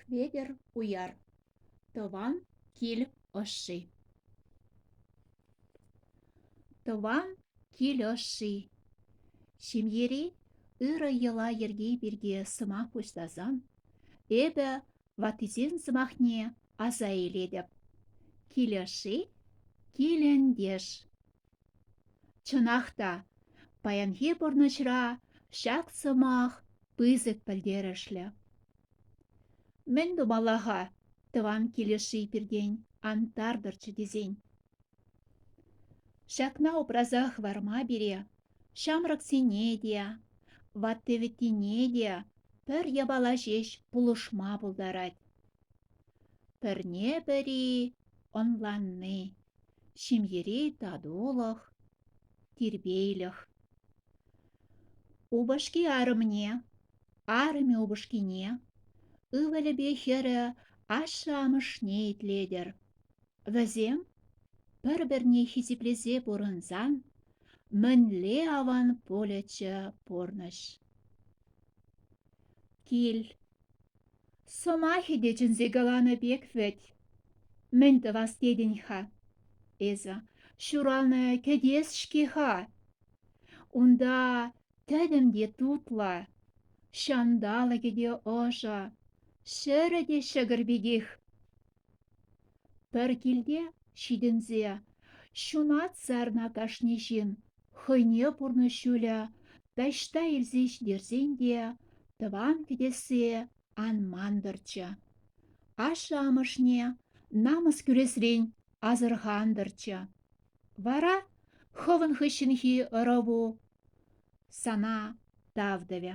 Хветӗр уяр, тӑван кил ӑшши. Тӑван кил ӑшши. Ҫемьери ырӑ йӑла-йӗрке пирки сӑмах пуҫласан эпӗ ваттисен сӑмахне аса илетӗп. Килӗ-ши? Килӗнтеш. Чӑнах та, паянхи пурнӑҫра ҫак сӑмах пысӑк пӗлтерӗшлӗ. Мӗн тумалла-ха тӑван килӗшши пиртен антартӑрччӗ тесен? Ҫакна упраса хӑварма пире Ҫамрӑксене те, ватти-вӗттине те пӗр япала ҫеҫ пулӑшма пултарать. Пӗрне-пӗри ӑнланни, ҫемьери татулӑх, тирпейлӗх. Упӑшки арӑмне, арӑмӗ упӑшкине, ывӑлӗпе хӗрӗ ашшӗ-амӑшне итлетӗр. Вӗсем пӗр-пӗрне хисеплесе пурӑнсан Мӗнле аван полӗччӗ пурнӑҫ. Кил. Сӑмахӗ те чӗнсе каланӑ пек вӗт. Мӗн тӑвас тетӗн-ха эсӗ? Ҫуралнӑ кӗтес-ҫке-ха. Унта тӗтӗм те тутлӑ, ҫанталӑкӗ те ӑшӑ, ҫӗрӗ те ҫӑкӑр пекех. Пӗр килте ҫитӗнсе ҫунат сарнӑ кашни ҫын хӑйне пурнӑҫ ҫулӗ таҫта илсе ҫитерсен те тӑван кӗтессе ан мантӑрччӗ. Ашшӗ-амӑшне намӑс кӳресрен асӑрхантӑрччӗ. Вара хӑвӑн хыҫҫӑнхи ӑрӑву сана тав тӑвӗ.